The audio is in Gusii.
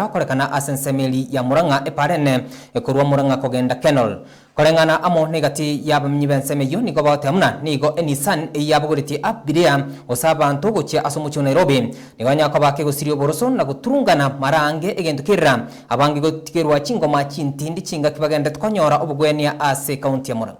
Gokorekana ase ensemeri ya Murang'a eparene, korwa Murang'a kogenda Kenol. Koreng'ana amo negati y'abaminyi b'ensemo eyio nigo bagotea buna nigo eNissan eyio yabogoretie Abiria gose abanto gochia ase omochie o Nairobi nigo banyare koba akegosiria oboroso na goturungana mara ange egento kerira abange gotigerwa chingoma chintindi chingaki bagenderete konyora obogwenia ase County ya Murang'a.